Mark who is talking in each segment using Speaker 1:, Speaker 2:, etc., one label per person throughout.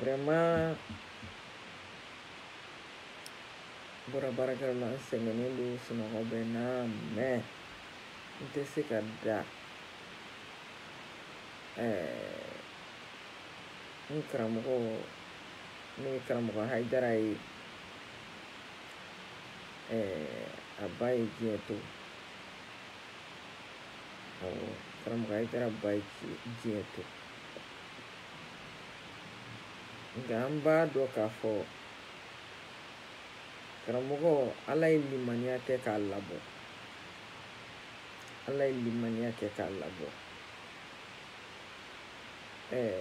Speaker 1: vraiment bɔra baarakɛyɔrɔ la n sɛgɛnnen don sunɔgɔ bɛ n na mɛ n tɛ se ka da n karamɔgɔ n'o ye karamɔgɔ hayidara ye a ba ye diɲɛ to awɔ karamɔgɔ hayidara ba ye diɲɛ to nka an b'a dɔn k'a fɔ karamɔgɔ ala ye limaniya kɛ k'a labɔ ala ye limaniya kɛ k'a labɔ ɛɛ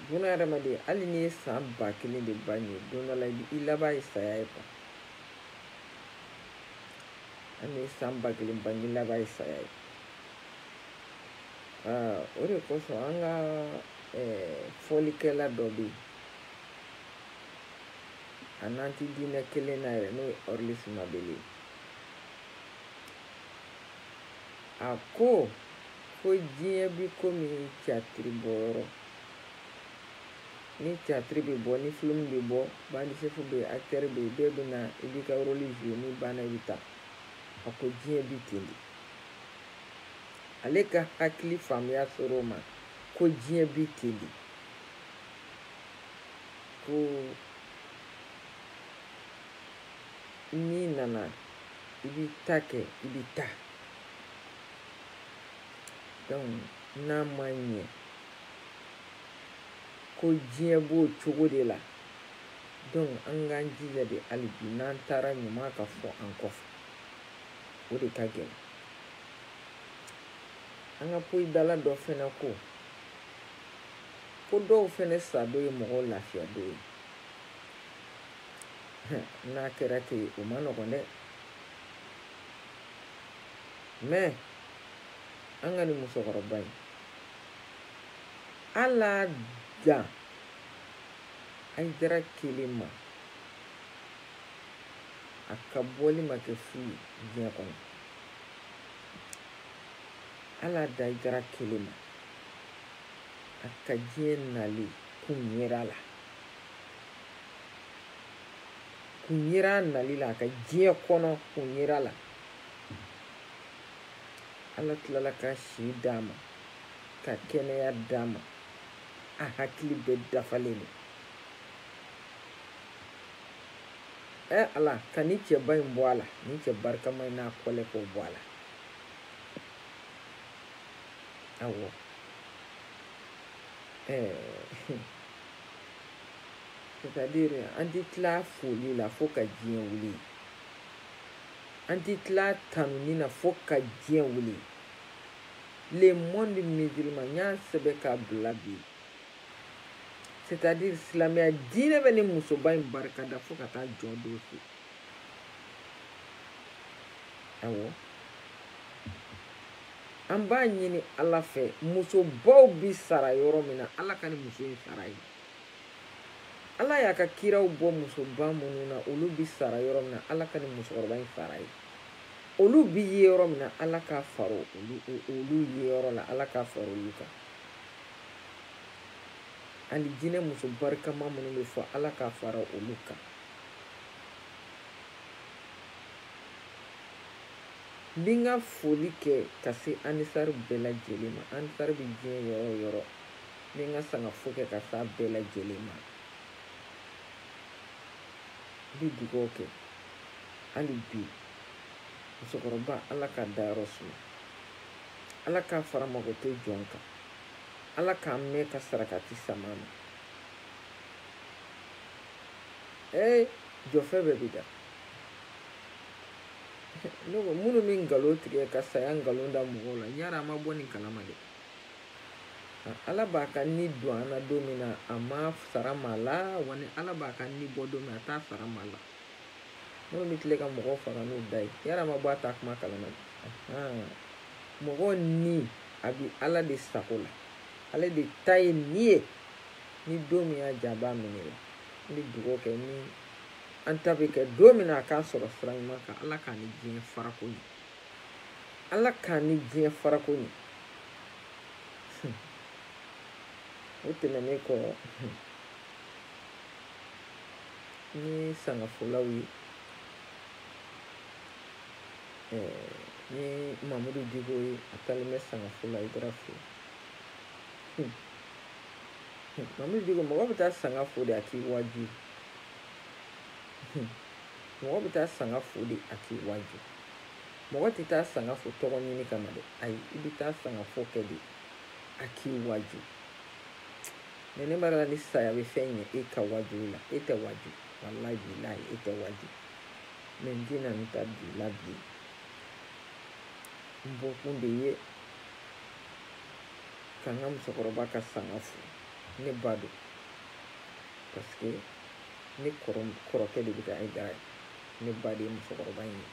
Speaker 1: buna hadamaden hali n'i ye san ba kelen de ba ɲɛ don dɔ la i laban ye saya ye kuwa hali n'i ye san ba kelen ba ɲɛ i laban ye saya ye o de kosɔn an ka fɔlikɛla dɔ bɛ yen a n'an tɛ diinɛ kelen na yɛrɛ n'o ye ɔrilisi mabele a ko ko diɲɛ bi komi catiri bɔyɔrɔ ni catiri bɛ bɔ ni filimu bɛ bɔ bandisefu bɛ yen akitɛri bɛ yen bɛɛ bɛ na i b'i ka roli zuwe n'i banna i bɛ taa a ko diɲɛ bi ten de ale ka hakili faamuya sɔrɔ o ma ko diɲɛ bi ten de ko n'i nana i b'i ta kɛ i bɛ taa donc n'an b'a ye ko diɲɛ b'o cogo de la donc an k'an jija dɛ hali bi n'an taara ɲuman ka fɔ an kɔfɛ o de ka gɛlɛn an ka poyidala dɔ fɛnɛ ko ko dɔw fɛnɛ sadon ye mɔgɔw lafiya don ye n'a kɛra ten o man nɔgɔn dɛ mɛ an ka nin musokɔrɔba in hal'a dan hayidara kelen ma a ka bɔli ma kɛ fu ye diɲɛ kɔnɔ hal'a dan hayidara kelen ma a ka diɲɛ nali kun yera la kun yera a nali la a ka diɲɛ kɔnɔ kun yera la ala tilala ka si d'a ma ka kɛnɛya d'a ma a hakili bɛɛ dafalen don ɛ ala ka ni cɛba in bɔ a la ni cɛ barikama in n'a kɔlɛ k'o bɔ a la awɔ ɛɛ c'est-à-dire an ti tila foli la fo ka diɲɛ wuli an ti tila tanuni na fo ka diɲɛ wuli le monde musulman n y'a sɛbɛn k'a bila bi c'est à dire silamɛya diinɛ bɛ ni musoba in barikada fo ka taa jɔ don se awɔ an b'a ɲini ala fɛ musobaw bi sara yɔrɔ min na ala ka ni muso in sara ye ala y'a ka kiraw bɔ musoba minnu na olu bi sara yɔrɔ min na ala ka ni musokɔrɔba in sara ye olu bi ye yɔrɔ min na ala k'a fara olu ye yɔrɔ la ala k'a fara olu kan alijinɛ muso barikama minnu bɛ fɔ ala k'a fara olu kan n bɛ n ka foli kɛ ka se anisari bɛɛ lajɛlen ma anisari bɛ diɲɛ yɔrɔ o yɔrɔ n bɛ n ka sangafo kɛ ka se a bɛɛ lajɛlen ma n bɛ dugawu kɛ hali bi musokɔrɔba ala k'a dayɔrɔ suma ala k'a fara makoto jɔn kan ala k'an mɛɛn ka sarakati sama a ma ee jɔfɛ bɛɛ bi da ne ko minnu bɛ nkalon tigɛ ka saya nkalon da mɔgɔw la yara a ma bɔ nin kalama dɛ ala b'a ka ni don an na don min na a m'a sara maa la wa ni ala b'a ka ni bɔ don min a t'a sara maa la minnu bɛ tile ka mɔgɔw faga n'u da ye yara a ma bɔ a ta kuma kalama dɛ mɔgɔw ni a bi ala de sago la ale de ta ye ni ye ni don min y'a diya a b'a minɛ la n bɛ dugawu kɛ ni an ta bɛ kɛ don min na a k'a sɔrɔ sira ɲuman kan ala k'a ni diɲɛ farako ɲɛ ala k'a ni diɲɛ farako ɲɛ o tɛmɛnen kɔ ni sangafolaw ye ni mamudu diko ye a taalen bɛ sanga fo la hayidara fɛ mamudu diko mɔgɔ bɛ taa sanga fo de a k'i waju mɔgɔ bɛ taa sanga fo de a k'i waju mɔgɔ tɛ taa sanga fo tɔgɔ ɲini kama dɛ ayi i bɛ taa sanga fo kɛ de a k'i waju mais ne b'a la ni saya bɛ fɛn ɲɛ e ka waju la e tɛ waju walayi bilayi e tɛ waju mais n tɛna n ta bila bi n bɔkun de ye ka n ka musokɔrɔba ka sanga fo ne ba don parce que ne kɔrɔkɛ de bɛ ka ayidara ye ne ba de ye musokɔrɔba in ye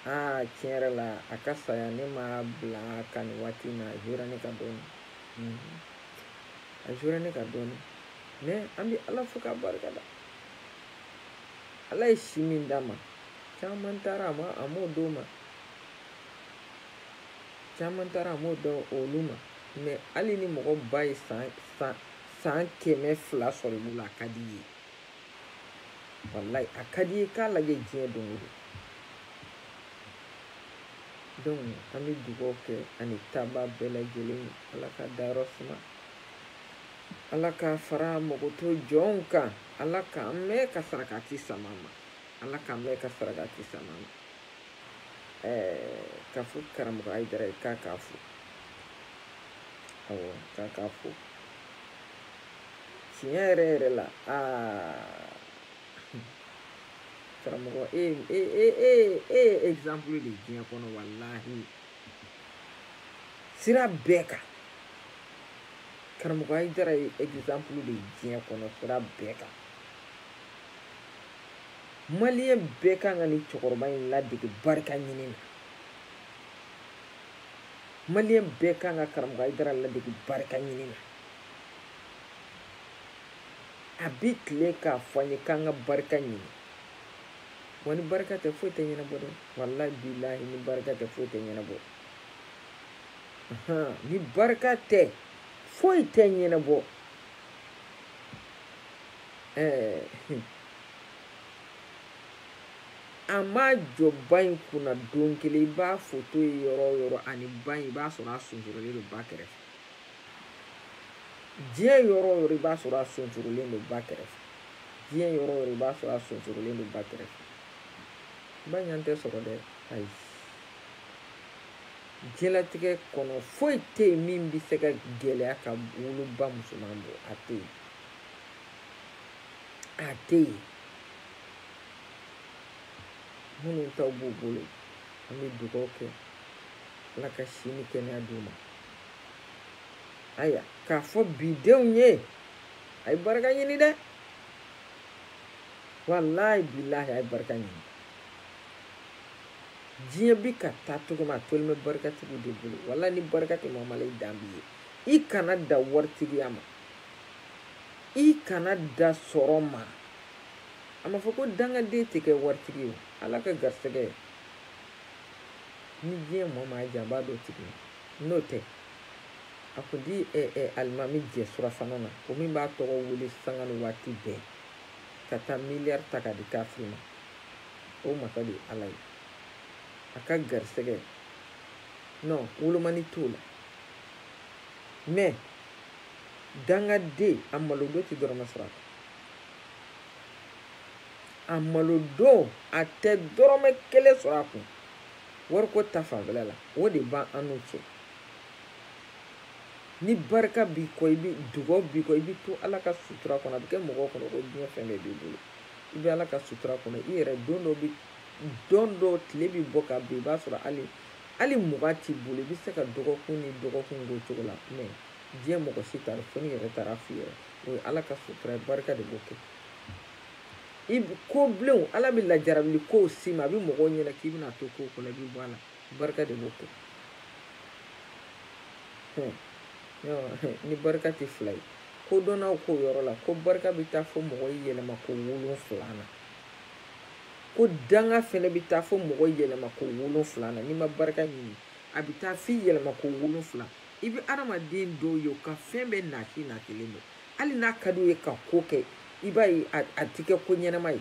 Speaker 1: aa tiɲɛ yɛrɛ la a ka saya ne m'a bila ka nin waati in na a jouera ne kan dɔɔni a jouera ne kan dɔɔni mais an bɛ ala fo k'a barika da ala ye si min d'a ma caman taara a ma a m'o d'o ma caman taara a m'o d'olu ma mais hali ni mɔgɔ ba ye san san san kɛmɛ fila sɔrɔ i bolo a ka di i ye walayi a ka di i ye k'a lajɛ diɲɛ don o don donc an bɛ dugawu kɛ ani taaba bɛɛ lajɛlen ye ala k'a dayɔrɔ suma ala k'a fara makoto jɔnw kan ala k'an mɛn ka sarakati sama a ma ala k'an mɛn ka sarakati sama a ma ɛɛ k'a fɔ karamɔgɔ ayidara ye k'a k'a fo awɔ k'a k'a fo tiɲɛ yɛrɛ yɛrɛ la aa karamɔgɔ e e e e e ye exemple de ye diɲɛ kɔnɔ walahi sira bɛɛ kan karamɔgɔ ayidara ye exemple de ye diɲɛ kɔnɔ sira bɛɛ kan maliyɛn bɛɛ kan ka nin cɛkɔrɔba in ladege barika ɲini na maliyɛn bɛɛ kan ka karamɔgɔ ayidara ladege barika ɲini na a bɛ tile k'a fɔ an ye k'an ka barika ɲini wa ni barika tɛ foyi tɛ ɲɛnabɔ dɛ walayi bilahi ni barika tɛ foyi tɛ ɲɛnabɔ ni barika tɛ foyi tɛ ɲɛnabɔ ɛɛ a ma jɔ ba in kunna don kelen i b'a foto ye yɔrɔ o yɔrɔ a ni ba in i b'a sɔrɔ a sonsorolen don ba kɛrɛfɛ diɲɛ yɔrɔ o yɔrɔ i b'a sɔrɔ a sonsorolen don ba kɛrɛfɛ diɲɛ yɔrɔ o yɔrɔ i b'a sɔrɔ a sonsorolen don ba kɛrɛfɛ ba ɲɔgɔn tɛ sɔrɔ dɛ ayi diɲɛlatigɛ kɔnɔ foyi tɛ yen min bɛ se ka gɛlɛya ka woloba musoman bɔ a tɛ yen a tɛ yen minnu taw b'u bolo an bɛ dugawu kɛ ala ka si ni kɛnɛya d'u ma ayiwa k'a fɔ bidenw ye a ye barika ɲini dɛ walayi bilahi a ye barika ɲini diɲɛ bi ka taa cogo min a tolen bɛ barikatigiw de bolo walayi ni barika tɛ mɔgɔ ma la i dan b'i ye i kana da waritigiya ma i kana da sɔrɔ ma a ma fɔ ko dangaden tɛ kɛ waritigi ye ala ka garisɛgɛ ni diɲɛ mɔɔ maa jan b'a d'o tigi ma n'o tɛ a kun ti ɛ ɛ alimami jɛ surafana na o min b'a tɔgɔ wele sanga ni waati bɛɛ ka taa miliyari ta k'a di kafiri ma o masa de ye ala ye a ka garisɛgɛ non wolomani t'o la mɛ dangaden a malodon tɛ dɔrɔmɛ sɔrɔ a kun a malodon a tɛ dɔrɔmɛ kelen sɔrɔ a kun wariko ta fanfɛla la o de b'an n'u cɛ ni barika b'i kɔ i ba dugaw b'i kɔ i bɛ to ala ka sutura kɔnɔ a bɛ kɛ mɔgɔw kɔnɔ ko diɲɛ fɛn bɛɛ b'i bolo i bɛ ala ka sutura kɔnɔ i yɛrɛ don dɔ bɛ don dɔ tile bɛ bɔ ka bin i b'a sɔrɔ hali hali mugan t'i bolo i bɛ se ka dɔgɔkun ni dɔgɔkun k'o cogo la mɛ diɲɛ mɔgɔ si t'a dɔn fo n'i yɛrɛ taara f'i yɛrɛ o ye ala ka sutura ye barika de b'o kɛ i ko bilenw ala bɛ lajarabili kow s'i ma a bɛ mɔgɔw ɲɛna k'i bɛna t'o kow kɔnɔ i bɛ bɔ a la barika de b'o kɛ ni barika tɛ fila ye kodɔnnaw k'o yɔrɔ la ko barika bɛ taa fo mɔgɔ yɛlɛma ko wolonfila na ko danga fɛnɛ bɛ taa fo mɔgɔ yɛlɛma ko wolonfila na n'i ma barika ɲini a bɛ taa f'i yɛlɛma ko wolonfila i bɛ adamaden dɔw ye u ka fɛn bɛɛ naki nakilen don hali n'a ka d'u ye ka ko kɛ i b'a ye a ti kɛ ko ɲɛnama ye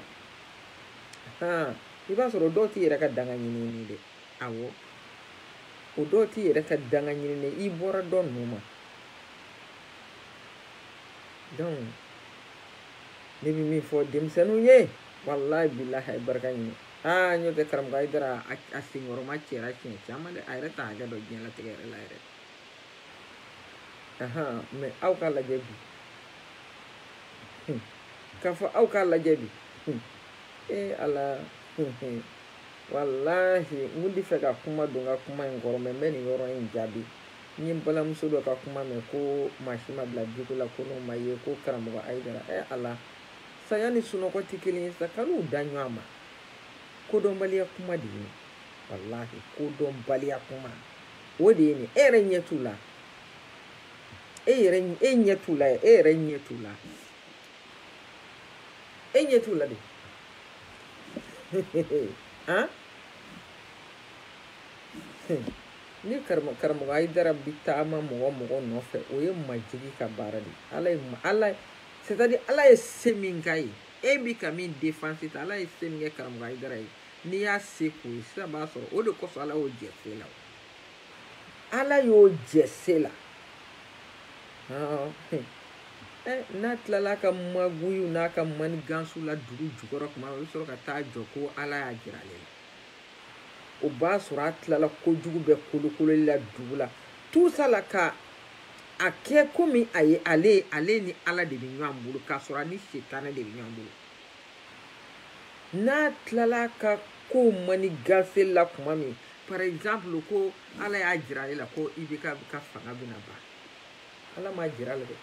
Speaker 1: han i b'a sɔrɔ o dɔw t'i yɛrɛ ka danga ɲininen dɛ awɔ o dɔw t'i yɛrɛ ka danga ɲininen i bɔra dɔ ninnu ma donc ne bɛ min fɔ denmisɛnninw ye walahi bilahi a ye barika ɲini aa n'o tɛ karamɔgɔ ayidara a senkɔrɔma cɛra siɲɛ caman dɛ a yɛrɛ t'a hakɛ dɔn diɲɛlatigɛ yɛrɛ la yɛrɛ ahan mɛ aw k'a lajɛ bi k'a fɔ aw k'a lajɛ bi ee ala walahi n kun tɛ fɛ ka kuma don n ka kuma in kɔrɔ mɛ n bɛ nin yɔrɔ in jaabi n ye n balimamuso dɔ ka kuma mɛn ko maa si ma bila jiko la ko n'o ma ye ko karamɔgɔ ayidara ee ala saya ni sunɔgɔ tɛ kelen ye sa kan'u da ɲɔgɔn ma kodɔnbaliya kuma de ye walahi kodɔnbaliya kuma o de ye nin e yɛrɛ ɲɛ t'u la e yɛrɛ e ɲɛ t'u la e yɛrɛ ɲɛ t'u la e ɲɛ t'u la de han ni karamɔgɔ ayidara bi taama mɔgɔ mɔgɔ nɔfɛ o ye majigi ka baara de ala ye ala c'est à dire ala ye se min k'a ye e bi ka min défense ta ala ye se min kɛ karamɔgɔ ayidara ye n'i y'a se k'o ye sisan b'a sɔrɔ o de kosɔn ala y'o jɛ se la ala y'o jɛ se la n'a tilala a ka maguyiw n'a ka manigansu la dugu jukɔrɔ kuma o bɛ sɔrɔ ka taa jɔ ko ala y'a jira ale la o b'a sɔrɔ a tilala kojugu bɛɛ kolokololi la dugu la tout ça la ka a kɛ komi a ye ale ni ala de bɛ ɲɔgɔn bolo k'a sɔrɔ a ni setanɛ de bɛ ɲɔgɔn bolo n'a tilala ka ko manigansi la kuma min par exemple ko ala y'a jira ale la ko IBK ka fanga bɛna ban ala m'a jira a la dɛ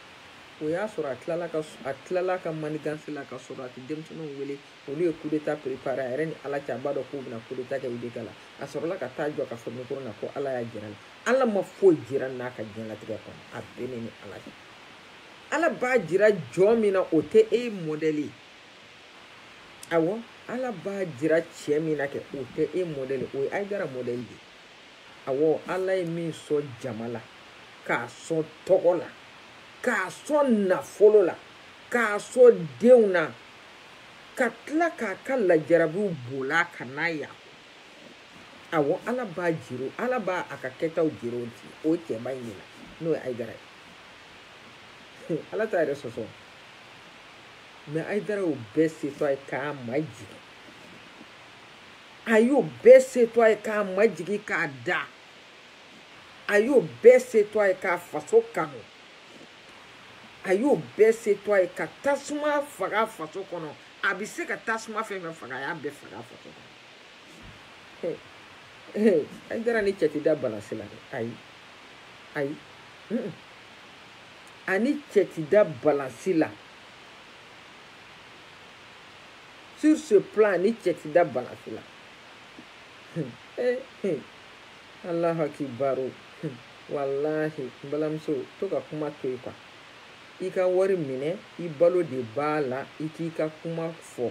Speaker 1: o y'a sɔrɔ a tilala ka a tilala ka manigansi la ka sɔrɔ a tɛ denmisɛnninw wele olu ye kudeta perepare a yɛrɛ ni ala cɛ a b'a dɔn k'u bɛna kudeta kɛ IBK la a sɔrɔla ka taa jɔ ka fɔ mikoro na ko ala y'a jira a la ala ma foyi jira n'a ka diɲɛlatigɛ kɔnɔ a bɛ ne ni ala cɛ ala b'a jira jɔn min na o tɛ e mɔdɛli ye awɔ ala b'a jira cɛ min na kɛ o tɛ e mɔdɛli o ye ayidara mɔdɛli de ye awɔ ala ye min sɔn jama la k'a sɔn tɔgɔ la k'a sɔn nafolo la k'a sɔn denw na ka tila k'a ka lajarabiw bola ka n'a ye a kɔ awɔ ala b'a jira ala b'a a ka kɛtaw jira o cɛba in de la n'o ye ayidara ye ala t'a yɛrɛ sɔsɔ mɛ ayidara y'o bɛɛ se to a ye k'a majigin a y'o bɛɛ se to a ye k'a majigin k'a da a y'o bɛɛ se to a ye k'a faso kanu a y'o bɛɛ se to a ye ka tasuma faga faso kɔnɔ a bɛ se ka tasuma fɛn fɛn faga a y'a bɛɛ faga faso kɔnɔ ayidara ni cɛ ti da balansi la dɛ ayi ayi a ni cɛ ti da balansi la sur ce plan a ni cɛ ti da balansi la alahu akibaru walahi n balimamuso to ka kuma to yen quoi i ka wari minɛ i balo de b'a la i k'i ka kuma fɔ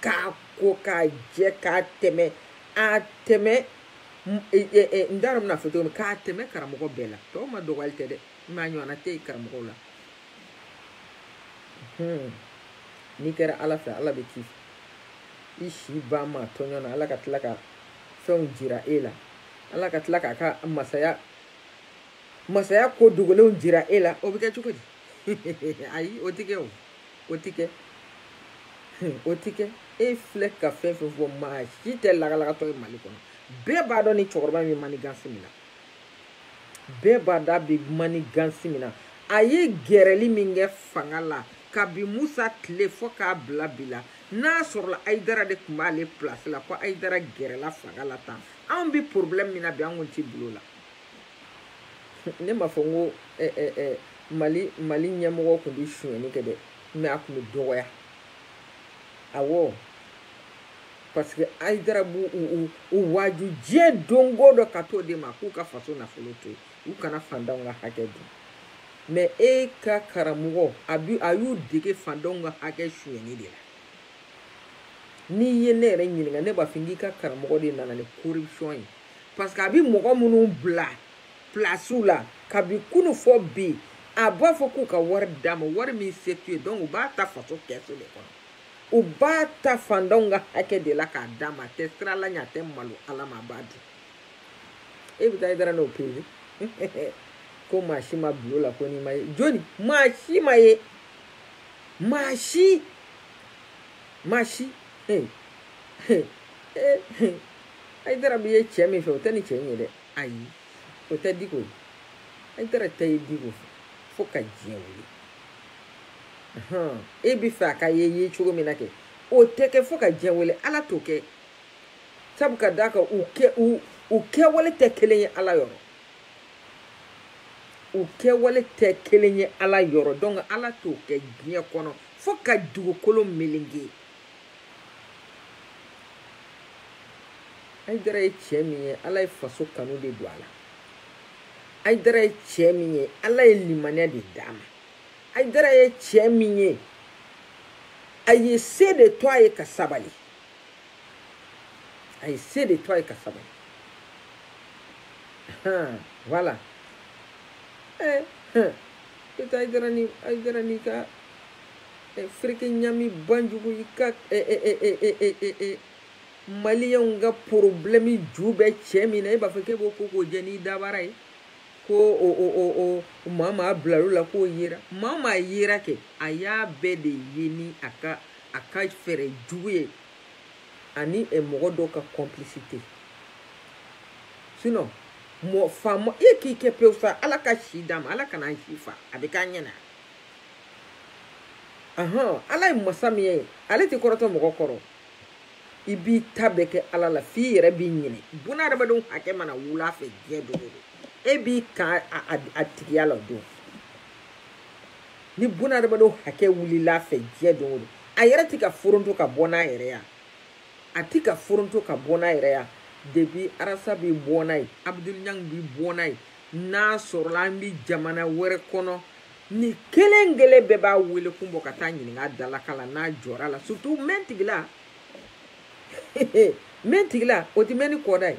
Speaker 1: k'a ko k'a jɛ k'a tɛmɛ a tɛmɛ e, e, e, n t'a dɔn n bɛna fɔ cogo min k'a tɛmɛ karamɔgɔ bɛɛ la tɔw madɔgɔyali tɛ dɛ mais a ɲɔgɔnna tɛ yen karamɔgɔw la hmm. n'i kɛra ala fɛ ala bɛ k'i i si ban maa tɔɲɔ na ala ka tila ka fɛnw jira e la ala ka tila k'a ka masaya masaya ko dogolenw jira e la o bɛ kɛ cogo di ayi o tɛ kɛ o o tɛ kɛ o tɛ kɛ e filɛ ka fɛn fɛn fɔ maa si tɛ lagalagatɔ ye mali kɔnɔ bɛɛ b'a dɔn ni cɛkɔrɔba min bɛ manigansi min na bɛɛ b'a dɔn a bɛ manigansi min na a ye gɛrɛli min kɛ fanga la kabi musa tile fo k'a bila bi la n'a sɔrɔla ayidara de tun b'ale pilasi la ko ayidara gɛrɛla fanga la tan anw bɛ porobilɛmu min na bi an kun tɛ bil'o la ne m'a fɔ n ko eh, eh, eh, mali mali ɲɛmɔgɔ tun bɛ sonyɛni kɛ dɛ mais a tun bɛ dɔgɔya awɔ parce que ayidara b'u u u waaju diɲɛ don o don ka t'o de ma k'u ka faso nafolo to yen u kana fantanw ka hakɛ dun mais e ka karamɔgɔ a bi a y'u dege fantanw ka hakɛ sonyɛni de la n'i ye ne yɛrɛ ɲininka ne b'a fɔ k'i ka karamɔgɔ de nana ni corruption ye parce que a bɛ mɔgɔ minnu bila pilasiw la kabi kunu fo bi a b'a fɔ k'u ka wari d'a ma wari min se t'u ye donc u b'a ta faso kɛsu de kɔnɔ u b'a ta fantanw ka hakɛ de la k'a d'a ma a tɛ siran ala ɲɛ a tɛ malo ala ma a b'a dun e bɛ taa ayidara n'o pese ko maa si ma bil'o la ko n'i ma ye jɔni maa si ma ye maa si maa si ee ee ee ayidara bi ye cɛ min fɛ o tɛ nin cɛ in ye dɛ ayi o tɛ diko ye ayidara tɛ ye diko fɛ fo ka diɲɛ wuli e b'a fɛ a ka ye ye cogo min na kɛ o tɛ kɛ fo ka diɲɛ wuli ala t'o kɛ sabu ka d'a kan u kɛ u u kɛwale tɛ kelen ye ala yɔrɔ u kɛwale tɛ kelen ye ala yɔrɔ donc ala t'o kɛ diɲɛ kɔnɔ fo ka dugukolo melenge ayidara ye cɛ min ye ala ye faso kanu de don a la ayidara ye cɛ min ye ala ye limaniya de d'a ma ayidara ye cɛ min ye a ye se de to a ye ka sabali a ye se de to a ye ka sabali han voilà eh, eh. ayidara ni ayidara n'i ka eh, fereke ɲami banjugu i ka eh, maliyɛnw ka porobilɛmu ju bɛ cɛ min na e b'a fɔ k'e b'o ko k'o jɛ n'i dabara ye ko o o o o maa maa bilal'o la k'o yera maa maa yera kɛ a y'a bɛɛ de ye ni a ka a ka fɛɛrɛ jugu ye ani eh, mɔgɔ dɔw ka complicité sinon mɔgɔ faama e k'i kɛ pewu sa ala ka si d'a ma ala kana si fa a bɛ k'a ɲɛna ahɔn ala ye masa min ye ale tɛ kɔrɔtɔ mɔgɔ kɔrɔ i b'i ta bɛɛ kɛ ala la f'i yɛrɛ b'i ɲinɛ bunadamadenw hakɛ mana wul'a fɛ diɲɛ don o don e b'i kan a tigiya la o don ni bunadamadenw hakɛ wulil'a fɛ diɲɛ don o don a yɛrɛ tɛ ka foronto ka bɔ n'a yɛrɛ ya a tɛ ka foronto ka bɔ n'a yɛrɛ ya depuis arasa b'i bɔ n'a ye abudul ɲang b'i bɔ n'a ye n'a sɔrɔla an bɛ jamana wɛrɛ kɔnɔ nin kelen kelen bɛɛ b'a wele kun bɔ ka t'a ɲininka dalaka la n'a jɔr'a la surtout mɛn tigila mɛn tigila o tɛ mɛn ni kɔda ye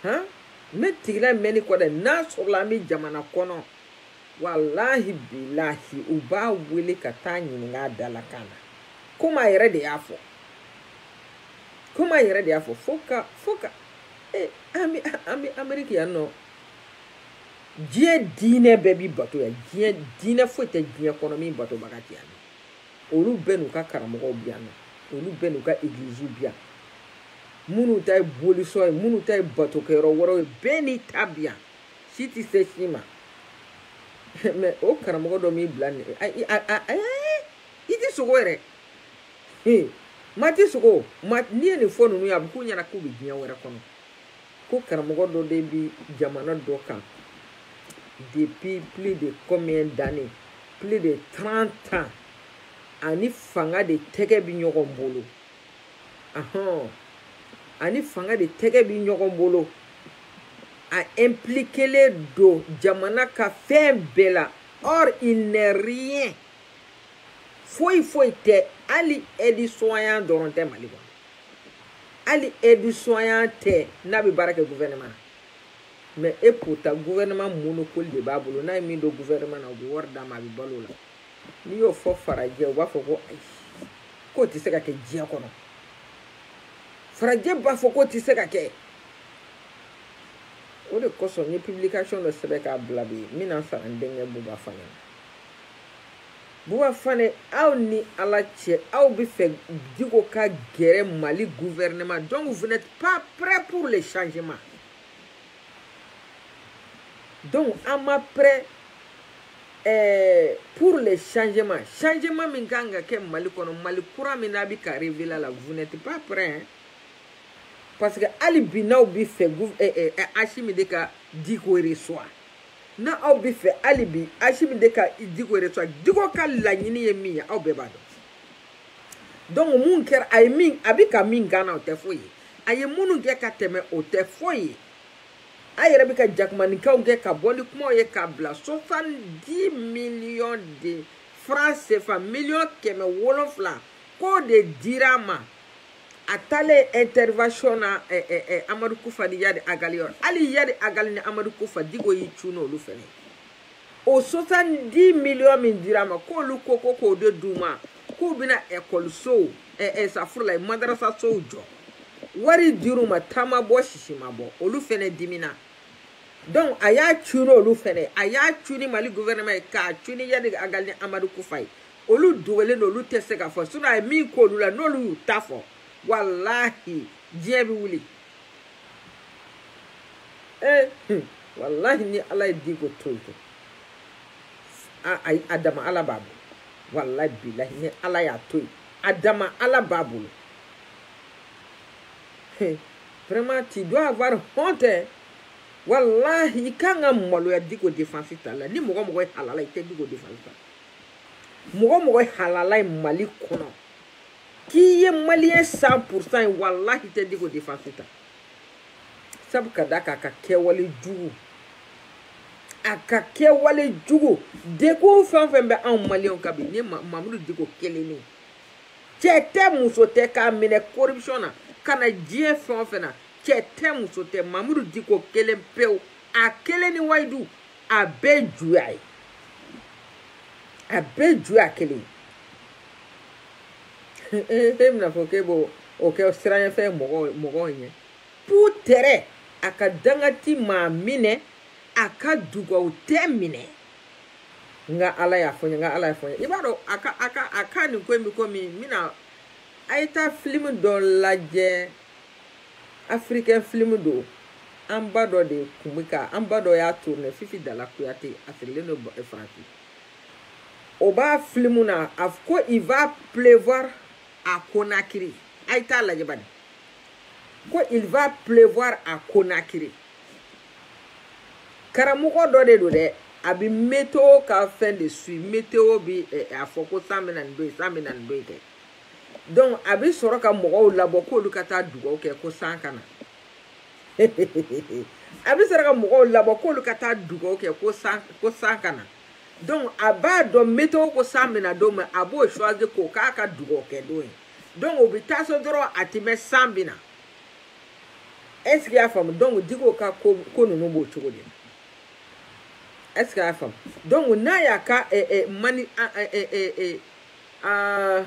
Speaker 1: han mɛn tigila mɛn ni kɔda ye n'a sɔrɔla an bɛ jamana kɔnɔ walahi bilahi u b'a wele ka t'a ɲininka dalakan na komi a yɛrɛ de y'a fɔ komi a yɛrɛ de y'a fɔ fo ka fo ka. Eh, an bɛ an bɛ ameriki yan nɔ diɲɛ diinɛ bɛɛ bi bato yan diɲɛ diinɛ foyi tɛ diɲɛ kɔnɔ min batobaga tɛ yan olu bɛɛ n'u ka karamɔgɔw bi yan nɔ olu bɛɛ n'u ka egiliziw bi yan minnu ta ye bolisɔn ye minnu ta ye batokɛyɔrɔ wɛrɛw ye bɛɛ n'i ta bi yan si tɛ se si ma mɛ o karamɔgɔ dɔ m'i bila nin i tɛ sogo yɛrɛ He, maa ti sogo n'i ye nin fɔ ninnu ye a bɛ k'u ɲɛna k'u bɛ diɲɛ wɛrɛ kɔnɔ ko karamɔgɔ dɔ de bɛ jamana dɔ kan depuis plus de combien d'années plus de 30 ans a ni fanga de tɛgɛ bɛ ɲɔgɔn bolo ahɔn a ni fanga de tɛgɛ bɛ ɲɔgɔn bolo a impliquelen don jamana ka fɛn bɛɛ la or il n'est rien foyi foyi tɛ hali aide-soignant dɔrɔn tɛ mali kɔnɔ hali aide-soignant tɛ n'a bɛ baara kɛ gouvernement mais et pourtant gouvernement monopole de b'a bolo n'a ye min don gouvernement na u bɛ wari d'a ma a bɛ balo la n'i y'o fɔ farajɛ u b'a fɔ ko ayi k'o tɛ se ka kɛ diɲɛ kɔnɔ farajɛ b'a fɔ k'o tɛ se ka kɛ o de kosɔn n ye publication dɔ sɛbɛn k'a bila bi n bɛna sara n denkɛ buba fane na buba fane aw ni ala cɛ aw bɛ fɛ diko ka gɛrɛ mali gouvernement donc vous n'êtes pas prêt pour le changement donc an ma prêt eh, pour le changement changement min ka kan ka kɛ mali kɔnɔ mali kura min n'a bɛ ka révéler la vous n'êtes pas prêt hein? parce que hali bi n'aw bɛ fɛ eh, eh, eh, asimi de ka diko reçoit n'aw bɛ fɛ hali bi asimi de ka diko reçoit diko ka laɲini ye min ye aw bɛɛ b'a dɔn donc mun kɛra a ye min a bɛ ka min gana o tɛ foyi ye a ye minnu kɛ ka tɛmɛ o tɛ foyi ye a yɛrɛ bɛ ka jakumaninkaw kɛ ka bɔ ni kumaw ye k'a bila sept cent millions de francs CFA miliyɔn kɛmɛ wolonfila k'o de dira a ma a taalen intervention na ɛ eh, ɛ eh, ɛ eh, amadu kufa ni yadi agali yɔrɔ hali yadi agali ni amadu kufa diko y'i cun n'olu fɛnɛ ye o sept cent million min dira a ma k'olu ko ko k'o de d'u ma k'u bɛna ekɔlisow ɛ ɛ safurulayi madarasasow jɔ wari dir'u ma ta ma bɔ sisi ma bɔ olu fɛnɛ dimina donc a y'a cun n'olu fɛnɛ ye a y'a cun ni mali gouvernement ye k'a cun ni yadi agali ni amadu kufa ye olu dogolen don olu tɛ se ka fɔ sinɔn a ye min k'olu la n'olu y'u ta fɔ walahi diɲɛ bɛ wuli ee eh, walahi ni ala ye diko to yen a dama ala b'a bolo walahi bilahi ni ala y'a to yen a dama ala b'a bolo eh, vraiment tu dois avoir honte walahi i kan ka maloya diko defansi tali la ni mɔgɔ mɔgɔ ye halala i tɛ diko defansi ta mɔgɔ mɔgɔ ye halala ye mali kɔnɔ k'i ye maliyɛn san pourcent ye walahi i tɛ diko defansi ta sabu ka da k'a ka kɛwale jugu a ka kɛwale jugu degun fɛn fɛn bɛ anw maliyɛnw kan bi ni mamudu diko kelen ne cɛ tɛ muso tɛ k'a minɛ corruption na ka na diɲɛ fɛn o fɛn na cɛ tɛ muso tɛ mamudu diko kelen pewu a kelen ni wayidu a bɛɛ ye juguya ye a bɛɛ ye juguya kelen ye e bɛna fɔ k'e b'o kɛ siranɲɛfɛn mɔgɔw mɔgɔw ɲɛ peut-être a ka danga tɛ maa minɛ a ka dugaw tɛ minɛ nka ala y'a fɔ n ye nka ala y'a fɔ n ye i b'a dɔn a ka a ka a ka nin ko in bɛ komi n bɛna a ye taa filimu dɔ lajɛ afirikɛn filimu don an ba dɔ de kun bɛ ka an ba dɔ y'a tourné fifi dala kuyate a sigilen don faransi o b'a filimu na a ko il va pleuvoir à Conakry a ye t'a lajɛ bani ko il va pleuvoir à Conakry karamɔgɔ dɔ de don dɛ a bɛ météo ka fɛn de suit météo bi eh, a fɔ ko san bɛ na nin don yen san bɛ na nin don yen kɛ donc a bɛ sɔrɔ ka mɔgɔw labɔ k'olu ka taa dugawu kɛ ko san ka na a bɛ sɔrɔ ka mɔgɔw labɔ k'olu ka taa dugawu kɛ ko san ko san ka na donc a b'a dɔn météo ko san bɛ na don min a b'o choisir k'o k'a ka dugawu kɛ don ye donc o bɛ taa so dɔrɔn a tɛ mɛn san bɛ na est ce que y'a faamu donc Diko ka ko ko ninnu b'o cogo de la est ce que y'a faamu donc n'a y'a ka eh, eh, mani eh, eh, eh, eh, aa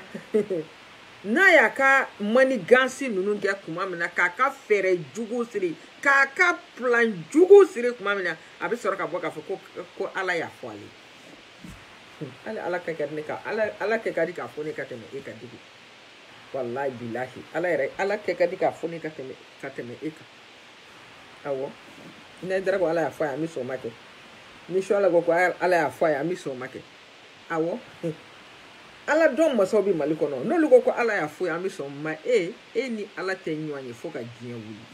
Speaker 1: n'a y'a ka manigansi ninnu kɛ kuma min na k'a ka fɛɛrɛ jugu siri k'a ka plan jugu siri kuma min na a bɛ sɔrɔ ka bɔ k'a fɔ ko ko ala y'a fɔ ale hali ala ka kɛ ne ka ala ala kɛ ka di k'a fɔ ne ka tɛmɛ e kan Diko walayi bilahi ala yɛrɛ ala kɛ ka di k'a fɔ ne ka tɛmɛ ka tɛmɛ e kan awɔ n'ayidara ko ala y'a fɔ a ye an bɛ sɔn o ma kɛ ni suwala ko ko ala y'a fɔ a ye an bɛ sɔn o ma kɛ awɔ ala dɔn masaw bɛ mali kɔnɔ n'olu ko ko ala y'a fɔ a ye an bɛ sɔn ma e e ni ala tɛ ɲɔgɔn ye fo ka diɲɛ wuli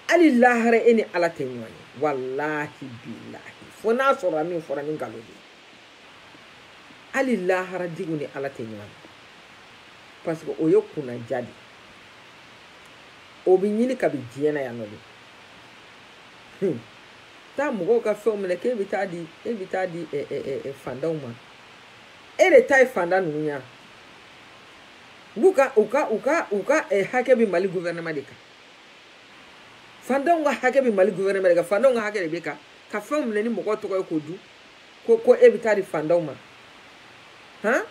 Speaker 1: hali lahara e ni ala tɛ ɲɔgɔn ye walahi bilahi fo n'a sɔrɔ min fɔra ni nkalon de ye hali lahara Diko ni ala tɛ ɲɔgɔn ye parce que o ye kunnaja de o bɛ ɲini kabi diɲɛ na yan nɔ de hmm. taa mɔgɔw ka fɛnw minɛ k'e bɛ taa di e bɛ taa di fantanw ma e de ta ye fantan ninnu ye u ka u ka u ka u ka hakɛ bɛ mali gouvernement de kan fantanw ka hakɛ bɛ mali gouvernement de kan fantanw ka hakɛ de bɛ kan ka fɛnw minɛ ni mɔgɔw tɔgɔ ye k'o dun ko ko e bɛ taa di fantanw ma han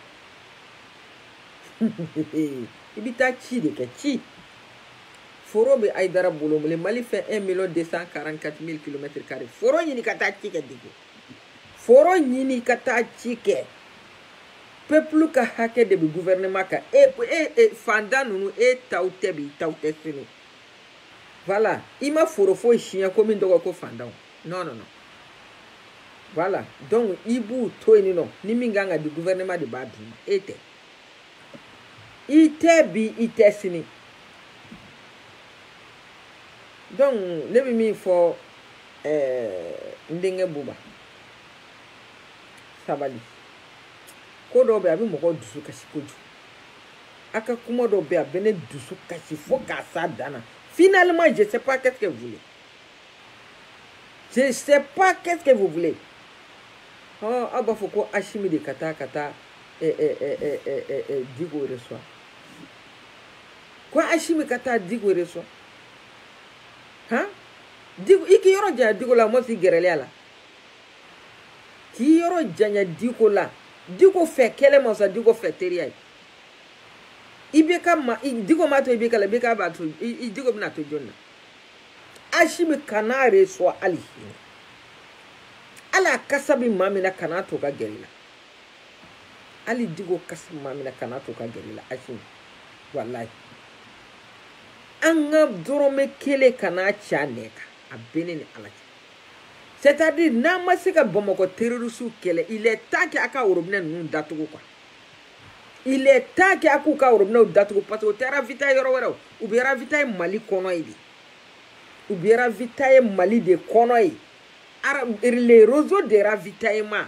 Speaker 1: i bɛ taa ci de kɛ ci. foro bɛ ayidara bolo mun le mali fɛ 1 million 244 mille kilomètre carré foro ɲini ka taa ci kɛ Diko foro ɲini ka taa ci kɛ pepulu ka hakɛ de bɛ guvɛrɛnɛma kan e e e fanda ninnu e taw tɛ bi taw tɛ sini voilà i ma foro foyi siɲɛ ko min tɔgɔ ko fandanw non non non voilà donc i b'u to yen nɔ ni min ka kan ka di guvɛrɛnɛma de b'a d'u ma e tɛ i tɛ bi i tɛ sini donc ne bɛ min fɔ ɛɛ eh, n denkɛ buba sabali ko dɔw bɛ a bɛ mɔgɔw dusu kasi kojugu a ka kuma dɔw bɛ a bɛ ne dusu kasi fo ka s'a dan na finalement je sais pas qu'est-ce que vous voulez je sais pas qu'est-ce que vous voulez ɔ aw b'a fɔ ko asimi de ka taa ka taa eh, eh, eh, diko reçoit ko asimi ka taa diko reçoit han diko i k'i yɔrɔ janya diko la mɔgɔ si gɛrɛlen ala k'i yɔrɔ janya diko la diko fɛ kɛlɛ ma sa diko fɛ teriya ye ibeka ma diko ma to ibeka la ibeka b'a to i diko bɛna to jɔn na asimi kan'a reçoit hali a la kasa bɛ maa min na kana to ka gɛrɛ i la hali diko kasa bɛ maa min na kana to ka gɛrɛ i la asimi walayi an ka dɔrɔmɛ kelen kana tiɲɛ a kan a bɛ ne ni ala cɛ c'est à dire n'an ma se ka bamakɔ terrorisiw kɛlɛ il est temps que a ka worobinɛ ninnu datugu quoi il est temps que a k'u ka worobinɛw datugu parce que u tɛ ravitaye yɔrɔ wɛrɛ o u bɛ ravitaye mali kɔnɔ yen de u bɛ ravitaye mali de kɔnɔ yen les réseaux de ravitaillement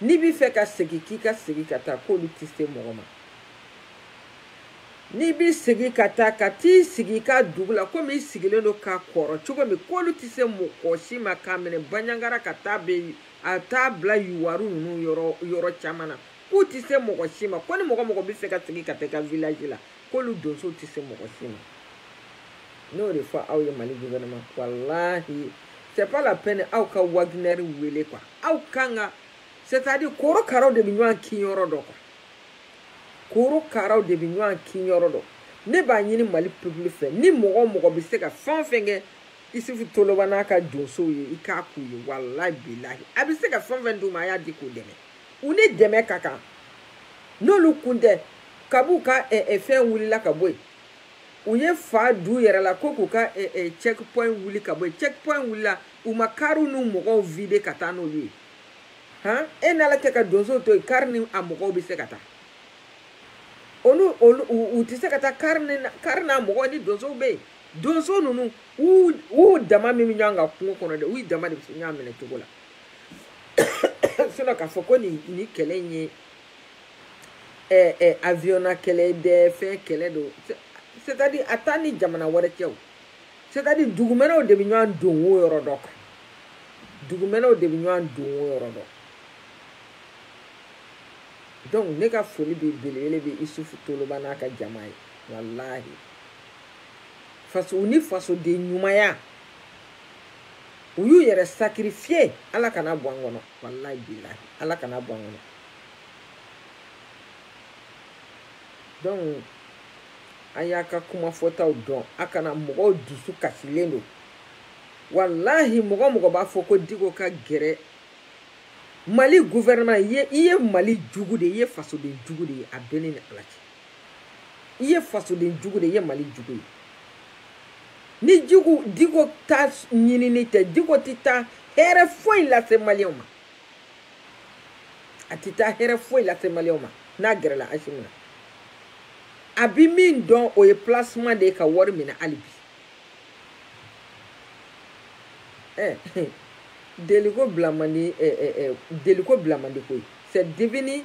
Speaker 1: n'i b'i fɛ ka segin k'i ka segin ka taa k'olu tɛ se mɔgɔ ma n'i b'i segin ka taa ka t'i sigi i ka dugu la komi i sigilen don ka kɔrɔ cogo min k'olu tɛ se mɔgɔ si ma k'a minɛ banjagara ka taa bɛ a taa bila yuwaru ninnu yɔrɔ yɔrɔ caman na k'u tɛ se mɔgɔ si ma ko ni mɔgɔ mɔgɔ b'i fɛ ka segin ka taa i ka village la k'olu donsow tɛ se mɔgɔ si ma n y'o de fɔ aw ye mali guvɛnɛma walahi c'est pas la peine aw ka wagner wele quoi aw kan ka c'est à dire korokaraw de bɛ ɲɔgɔn kin yɔrɔ dɔn quoi korokaraw de bɛ ɲɔgɔn kin yɔrɔ dɔn ne b'a ɲini mali peuple fɛ ni mɔgɔ o mɔgɔ bɛ se ka fɛn o fɛn kɛ isufu toloba n'a ka donsow ye i k'a k'u ye walahi bilahi a bɛ se ka fɛn o fɛn d'u ma a y'a di k'u dɛmɛ u ni dɛmɛ ka kan n'olu kun tɛ kab'u ka eh, eh, fɛn wulila ka bɔ yen u ye fa du yɛrɛ la ko k'u ka eh, eh, check point wuli ka bɔ yen check point wulila u ma kariw n'u mɔgɔw vide ka taa n'olu ye han e n'ala kɛ ka donsow to yen kari ni a mɔgɔw bɛ se ka taa olu olu u tɛ se ka taa kari ni kari n'a mɔgɔw ni donsow bɛ yen donso ninnu u u dama min bɛ ɲɔgɔn kan kungo kɔnɔ dɛ u dama de bɛ se ɲɔgɔn minɛ cogo la sinɔn k'a fɔ ko nin nin kɛlɛ in ye ɛɛ ɛɛ aviyɔnna kɛlɛ dɛ fɛn kɛlɛ don c'est à dire a t'an ni jamana wɛrɛ cɛ o c'est à dire dugumɛnɛw de bɛ ɲɔgɔn dogoyɔrɔ dɔn dugumɛnɛw de bɛ ɲɔgɔn dogoyɔrɔ dɔn donc ne ka foli bɛ belebele bɛ isufu toloba n'a ka jama ye walahi faso u ni fasoden ɲumanya. u y'u yɛrɛ sacrifier ala kan'a bɔ an kɔnɔ walayi bilahi ala kan'a bɔ an kɔnɔ donc a y'a ka kuma fɔtaw dɔn a kana mɔgɔw dusu kasilen don walahi mɔgɔ mɔgɔ b'a fɔ ko diko ka gɛrɛ mali gouvernement i ye mali jugu de ye i ye fasoden jugu de ye a bɛ ne ni ala cɛ i ye fasoden jugu de ye i ye mali jugu ye ni jugu diko ta ɲinini tɛ diko tɛ taa hɛrɛ foyi lase maliyɛnw ma a tɛ taa hɛrɛ foyi lase maliyɛnw ma n'a gɛrɛla asimi na a bi min dɔn o ye placement de ye ka wari minɛ hali bi eh, deliko bila man di eh, eh, eh, deliko bila man di koyi c'est devenu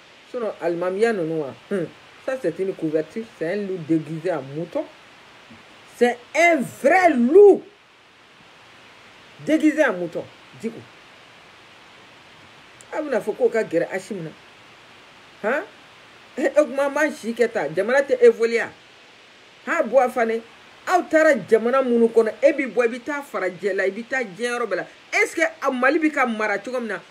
Speaker 1: sinon alimamiya ninnu wa hmm. ça c'est une couverture c'est un loup déguisé en mouton c'est un vrai loup déguisé en mouton diko a bɛn'a fɔ k'o ka gɛrɛ asimi na han o kuma ma si kɛ ta jamana tɛ évoluer ha bɔ a fane aw taara jamana minnu kɔnɔ e bi bɔ i bi taa farajɛla i bi taa diɲɛ yɔrɔ bɛɛ la est ce que a mali bi ka mara cogo min na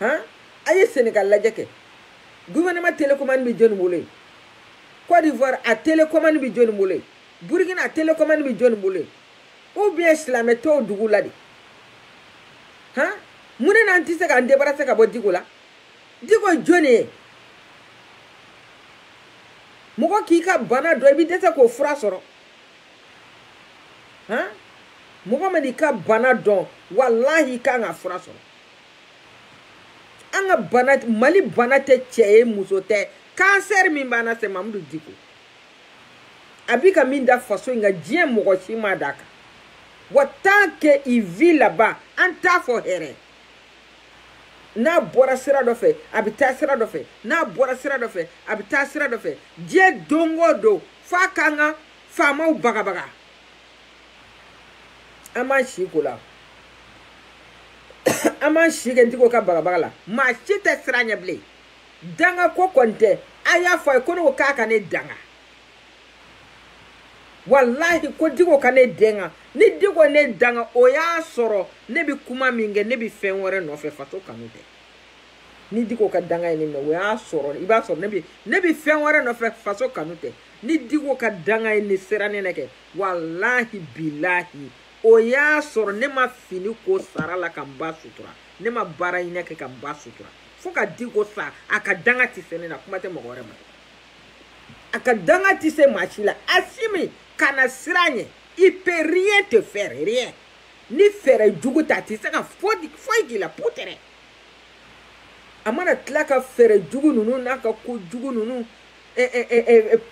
Speaker 1: han a ye senegal lajɛ kɛ gouvernement télécommande bɛ jɔni bolo yen côte d'ivoire a télécommande bɛ jɔni bolo yen burkina a télécommande bɛ jɔni bolo yen ou bien silamɛ tɔw dugu la de han mun de n'an tɛ se k'an débarrasser ka bɔ diko la diko jɔni ye mɔgɔ k'i ka bana dɔn i bɛ dɛsɛ k'o fura sɔrɔ han mɔgɔ mana i ka bana dɔn walahi i kan k'a fura sɔrɔ an ka bana mali bana tɛ cɛ ye muso tɛ kansɛri min b'an na c'est mamudu diko a bi ka min da faso in kan diɲɛ mɔgɔ si m'a da a kan wa tant que il vit là bas an t'a fɔ hɛrɛ n'a bɔra sira dɔ fɛ a bɛ taa sira dɔ fɛ n'a bɔra sira dɔ fɛ a bɛ taa sira dɔ fɛ diɲɛ don o don f'a k'an ka faamaw bagabaga an b'an si ko la an b'an si kɛ diko ka bagabaga la maa si tɛ siran a ɲɛ bilen danga ko kɔni tɛ a y'a fɔ a ye ko ne ko k'a ka ne danga walahi ko diko ka ne danga ni diko ne danga o y'a sɔrɔ ne bɛ kuma min kɛ ne bɛ fɛn wɛrɛ nɔfɛ faso kanu tɛ ni diko ka danga ye ne minɛ o y'a sɔrɔ i b'a sɔrɔ ne bɛ ne bɛ fɛn wɛrɛ nɔfɛ faso kanu tɛ ni diko ka danga ye ne sera ne na kɛ walahi bilahi o y'a sɔrɔ ne ma fini ko sara la ka n ba sutura ne ma baaraɲini kɛ ka n ba sutura fo ka diko sa a ka danga tɛ se ne na kuma tɛ mɔgɔ wɛrɛ ma a ka danga tɛ se maa si la asimi kana siran a ɲɛ il peut rien te faire rien ni fɛɛrɛ jugu tɛ a tɛ se ka foyi k'i la peut-être a mana tila ka fɛɛrɛ jugu ninnu n'a ka ko jugu ninnu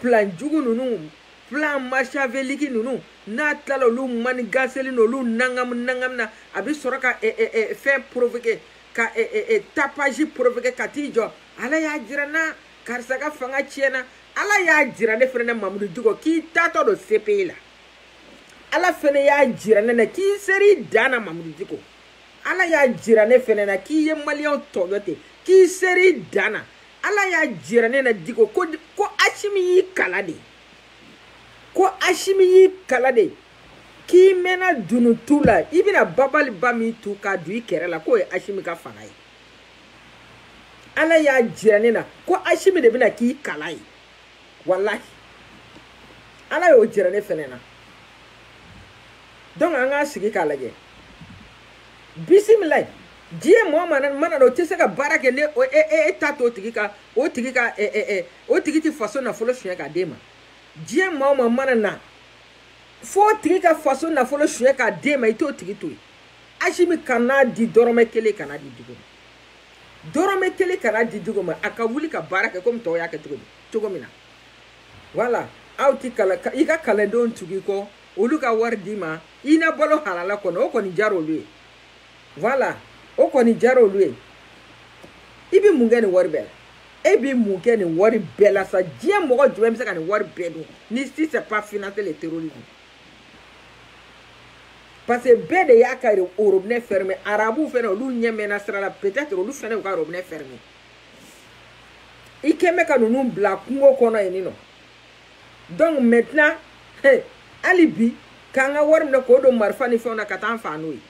Speaker 1: plan jugu ninnu plan machiavélique ninnu n'a tilala olu manigaseli n'olu nagami nagami na a bɛ sɔrɔ ka fɛn provoquer ka tapage provoquer ka t'i jɔ ala y'a jira n na karisa ka fanga tiɲɛna ala y'a jira ne fɛnɛ na mamudu diko k'i taatɔ don CPI la ala fɛnɛ y'a jira ne na k'i ser'i dan na mamudu diko ala y'a jira ne fɛnɛ na k'i ye maliyɛnw tɔɲɔ ten k'i ser'i dan na ala y'a jira ne na diko ko asimi y'i kala de ko asimi y'i kala de k'i mɛɛnna dunun tu la i bɛna babali ba min tu k'a don i kɛrɛ la k'o ye asimi ka fanga ye ala y'a jira ne na ko asimi de bɛna k'i kala ye walahi ala y'o jira ne fɛnɛ na donc an k'a sigi k'a lajɛ bisimilayi diɲɛ maa o maa mana na o tɛ se ka baara kɛ ne o e e e ta to o tigi ka o tigi ka ɛ ɛ ɛ o tigi tɛ faso nafolo suɲɛ k'a d'e ma diɲɛ maa o maa mana na fo o tigi ka faso nafolo suɲɛ k'a d'e ma i t'o tigi to yen asimi kana di dɔrɔmɛ kelen kana di diko ma dɔrɔmɛ kelen kana di diko ma a ka wuli ka baara kɛ komi tɔw y'a kɛ cogo min cogo min na voilà aw t'i kala i ka kalandenw tug'i kɔ olu ka wari d'i ma i na balo halala kɔnɔ o kɔni diyara olu ye voilà o kɔni diyara olu ye i bɛ mun kɛ nin wari bɛɛ la e bɛ mun kɛ nin wari bɛɛ la sa diɲɛ mɔgɔ jumɛn bɛ se ka nin wari bɛɛ dun ni si c'est pas financer le terrorisme parce que bɛɛ de y'a ka wari robinet fermé arabuw fɛnɛ olu ɲɛ mɛɛnna sira la peut-être olu fɛnɛ y'u ka robinet fermé i kɛ bɛ ka ninnu bila kungo kɔnɔ yen nɔ donc maintenant hali bi k'an ka wari minɛ k'o don marifa ni fɛnw na ka taa an faa n'o ye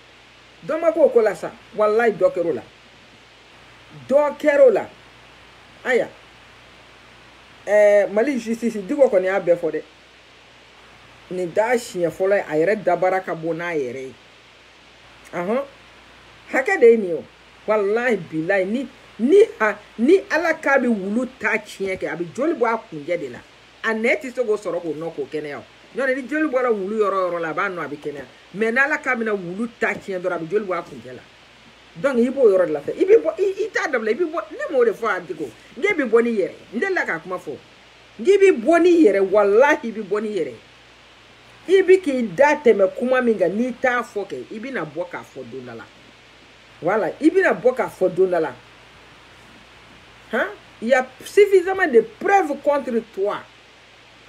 Speaker 1: dɔ ma k'o ko la sa walayi dɔ kɛr'o la dɔ kɛr'o la aya ɛɛ mali justice diko kɔni y'a bɛɛ fɔ dɛ nin t'a siɲɛ fɔlɔ ye a yɛrɛ dabara ka bɔ n'a yɛrɛ ye ahɔn hakɛ de ye nin ye o walahi bilayi ni ni ha ni ala k'a bɛ wulu ta tiɲɛ kɛ a bɛ joli bɔ a kuncɛ de la a nɛn tɛ se k'o sɔrɔ k'o nɔn k'o kɛnɛya o nɔntɛ ni joli bɔra wulu yɔrɔ o yɔrɔ la a b'a nɔn a bɛ kɛnɛya mais n'ala k'a bɛna wulu ta tiɲɛ dɔrɔn a bɛ joli bɔ a kuncɛ la donc i b'o yɔrɔ de la fɛ i bɛ bɔ i t'a dabila i bɛ bɔ ne m'o de fɔ a diko n k'e bɛ bɔ n'i yɛrɛ ye n delila k'a kuma fɔ n k'i bɛ bɔ n'i yɛrɛ walahi i bɛ bɔ n'i yɛrɛ ye i bi k'i da tɛmɛ kuma min kan n'i t'a fɔ kɛ i bɛna bɔ k'a fɔ don dɔ la voilà i bɛna bɔ k'a fɔ don dɔ la han il y a suffisamment de preuves contre toi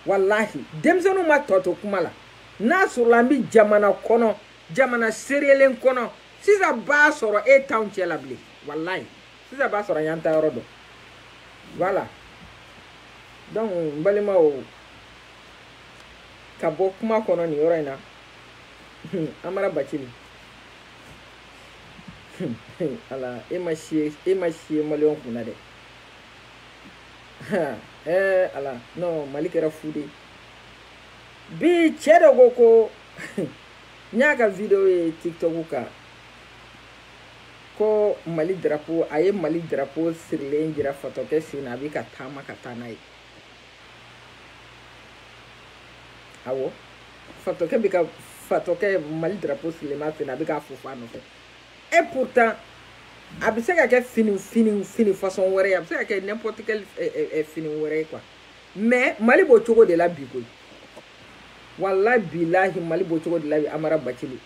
Speaker 1: walahi denmisɛnninw ma tɔ to kuma la n'a sɔrɔla an bɛ jamana kɔnɔ jamana seriyelen kɔnɔ sisan b'a sɔrɔ e t'anw cɛ la bilen walayi sisan b'a sɔrɔ an y'an taayɔrɔ dɔn voilà donc n balimaw ka bɔ kuma kɔnɔ nin yɔrɔ in na amara bacili ala e ma sie e ma sie maliyɛnw kun na dɛ ɛɛ ala non mali kɛra fu de bi cɛ dɔ ko ko n y'a ka video ye tiktok kan ko mali drapo a ye mali drapo sirilen jira fatɔkɛ sen na a bɛ ka taama ka taa n'a ye awɔ fatɔkɛ bɛ ka fatɔkɛ mali drapo sirilen b'a sen na a bɛ k'a fofo a nɔfɛ et pourtant a bɛ se ka kɛ fini fini fini façon wɛrɛ ye a bɛ se ka kɛ n'importe quel fini wɛrɛ ye quoi mais mali b'o cogo de la bi koyi walayi bilahi mali b'o cogo de la bi amara bacili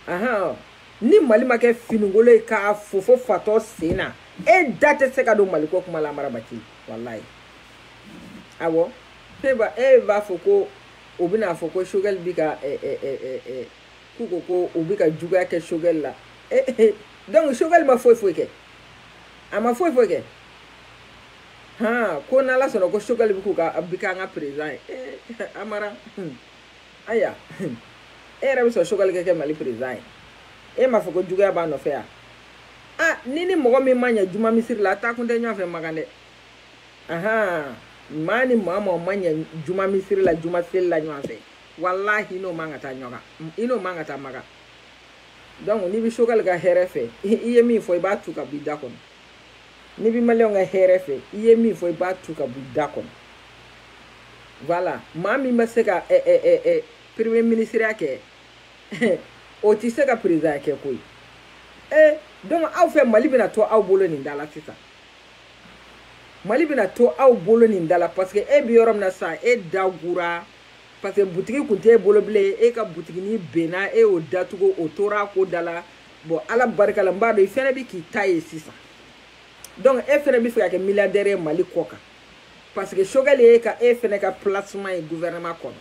Speaker 1: ahan ni mali ma kɛ finikolon ye k'a fofo fatɔ sen na e da tɛ se ka don maliko kuma la amara bacili walayi awɔ e ba e b'a fɔ ko o bɛna fɔ ko sogɛli bi ka ɛ ɛ ɛ ɛ ɛ k'u ko ko u bi ka juguya kɛ sogɛli la e e donc sogɛli ma foyi foyi kɛ a ma foyi foyi kɛ han ko n'ala sɔnna ko sogɛli bi k'u ka bi k'an ka président ye ee amara aya e yɛrɛ bɛ sɔn sogɛli ka kɛ mali président ye e m'a fɔ ko juguya b'a nɔfɛ yan. ah ni ni mɔgɔ min ma ɲɛ juma misiri la a taa kun tɛ ɲɔgɔn fɛ makan dɛ ahan maa ni maa maa ma ɲɛ juma misiri la juma seli la ɲɔgɔn fɛ walahi n'o man ka taa ɲɔgɔn kan i n'o man ka taa makan donc n'i bɛ Choguel ka hɛrɛ fɛ i ye min fɔ i b'a tu ka b'i da kɔnɔ n'i bɛ maliyɛnw ka hɛrɛ fɛ i ye min fɔ i b'a tu ka b'i da kɔnɔ voilà maa min ma se ka ɛ ɛ ɛ ɛ premier minisiriya kɛ o tɛ se ka perezidanya kɛ koyi ee eh, donc aw fɛ mali bɛna to aw bolo nin da la sisan mali bɛna to aw bolo nin da la parce que e bɛ yɔrɔ min na sisan e dagura parce que butigi kun tɛ e bolo bilen e ka butigini benna e y'o datugu o tora ko da la bon ala barika la n b'a dɔn i fɛnɛ bɛ k'i ta ye sisan donc e fɛnɛ bɛ fɛ ka kɛ milliardaire ye mali kɔ kan parce que Choguel ye ka e fɛnɛ ka placement ye gouvernement kɔnɔ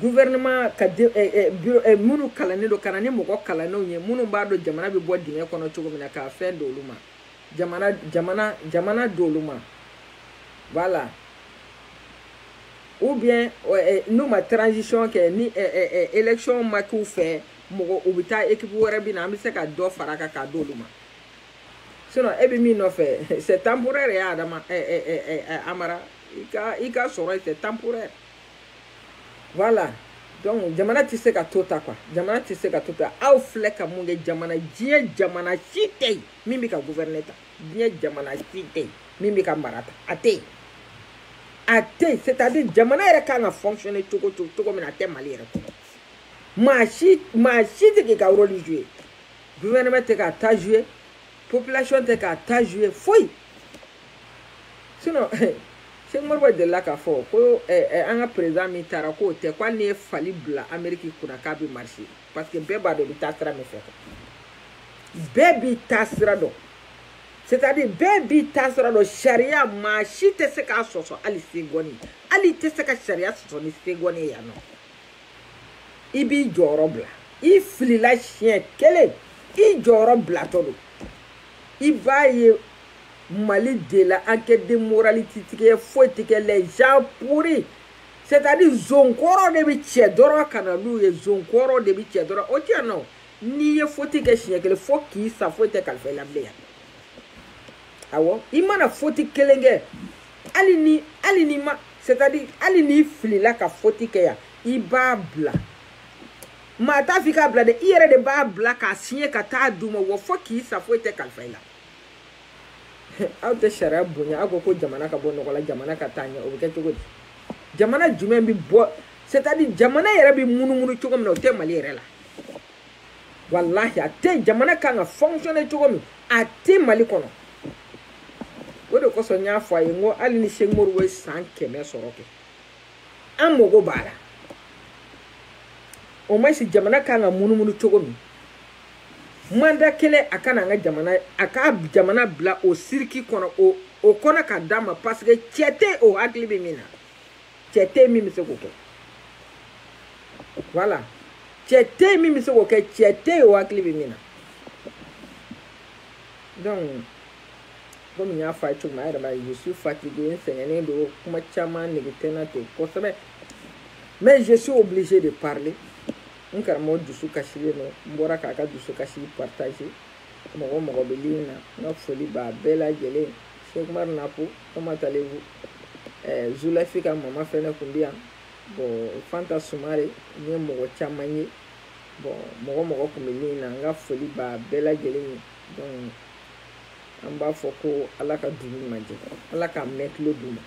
Speaker 1: gouvernement ka de eh, eh, bureau eh, minnu kalannen don ka na ni mɔgɔ kalannenw ye minnu b'a dɔn jamana bɛ bɔ dingɛ kɔnɔ cogo min na k'a fɛn d'olu ma jamana jamana jamana d'olu ma voilà ou bien eh, n'u ma transition kɛ ni eh, eh, eh, élection ma k'u fɛ mɔgɔ u bɛ taa équipe wɛrɛ bɛ na an bɛ se ka dɔ fara a kan k'a d'olu ma sinon e bɛ min nɔfɛ c'est temporaire ye adama eh, eh, eh, eh, eh, amara i ka i ka sɔrɔ ye c'est temporaire voilà donc jamana tɛ se ka to tan quoi jamana tɛ se ka to tan aw filɛ ka mun kɛ jamana diɲɛ jamana si tɛ yen min bɛ ka gouverner tan diɲɛ jamana si tɛ yen min bɛ ka mara tan a tɛ yen a tɛ yen c'est à dire jamana yɛrɛ kan ka fonctionner cogo cogo cogo min na a tɛ mali yɛrɛ kɔnɔ maa si maa si tɛ k'i ka rôle jouer gouvernement tɛ k'a ta jouer population tɛ k'a ta jouer foyi. sinon Segu Umaru ba delila k'a fɔ ko an ka perezidan min taara k'o tɛ ko hali n'i ye fali bila Ameriki kunna k'a bɛ marcher parce que bɛɛ b'a dɔn i bɛ taa sira min fɛ bɛɛ b'i taa sira dɔn c'est à dire bɛɛ b'i taa sira dɔn sariya maa si tɛ se k'a sɔsɔ hali segɔni hali i tɛ se ka sariya sɔsɔ ni segɔni ye yan nɔ i b'i jɔyɔrɔ bila i filila siɲɛ kelen i jɔyɔrɔ bilatɔ don i b'a ye mali de la enquête de moralité ti kɛ foyi ti kɛ les gens pourris c'est à dire zonkɔrɔ de bi cɛ dɔrɔn ka na n'u ye zonkɔrɔ de bi cɛ dɔrɔn o ti yan nɔ n'i ye foti kɛ siɲɛ kelen fo k'i sa foyi tɛ kalifa i la bilen yan awɔ i mana foti kelen kɛ hali ni hali ni ma c'est à dire hali n'i filila ka foti kɛ yan i b'a bila maa t'a f'i k'a bila dɛ i yɛrɛ de b'a bila k'a siɲɛ ka taa d'u ma wa fo k'i sa foyi tɛ kalifa i la aw tɛ sariya bonya aw ko ko jamana ka bɔ nɔgɔ la jamana ka taa ɲɛ o bɛ kɛ cogo di jamana jumɛn bɛ bɔ c'est à dire jamana yɛrɛ bɛ munumunu cogo min na o tɛ mali yɛrɛ la walahi a tɛ jamana kan ka fonctionner cogo min a tɛ mali kɔnɔ o de kosɔn n y'a fɔ a ye n ko hali ni sɛkumaru ye san kɛmɛ sɔrɔ kɛ an mago b'a la o ma si jamana kan ka munumunu cogo min manda kelen a kana an ka jamana a ka jamana bila o siriki kɔnɔ o kɔnɔ ka d'a ma parce que cɛ tɛ o hakili bɛ min na cɛ tɛ min bɛ se k'o kɛ voilà cɛ tɛ min bɛ se k'o kɛ cɛ tɛ o hakili bɛ min na donc. komi n y'a fɔ a ye cogo min a yɛrɛ b'a ye je suis fatigué n sɛgɛnnen don kuma caman nege tɛ n na ten kosɛbɛ mais je suis obligé de parler n karamɔgɔ dusu kasilen don n bɔra k'a ka dusu kasi partager mɔgɔ mɔgɔ bɛ lini na n ka foli b'a bɛɛ lajɛlen sɛkumaru napo comment allez-vous eh, zulafi ka mama fɛnɛ kun bɛ yan bon fanta sumare n ye mɔgɔ caman ye bon mɔgɔ mɔgɔ kun bɛ lini na n ka foli b'a bɛɛ lajɛlen ye donc an b'a fɔ ko ala ka dugu ɲuman jɛ ala k'a mɛn tulo duman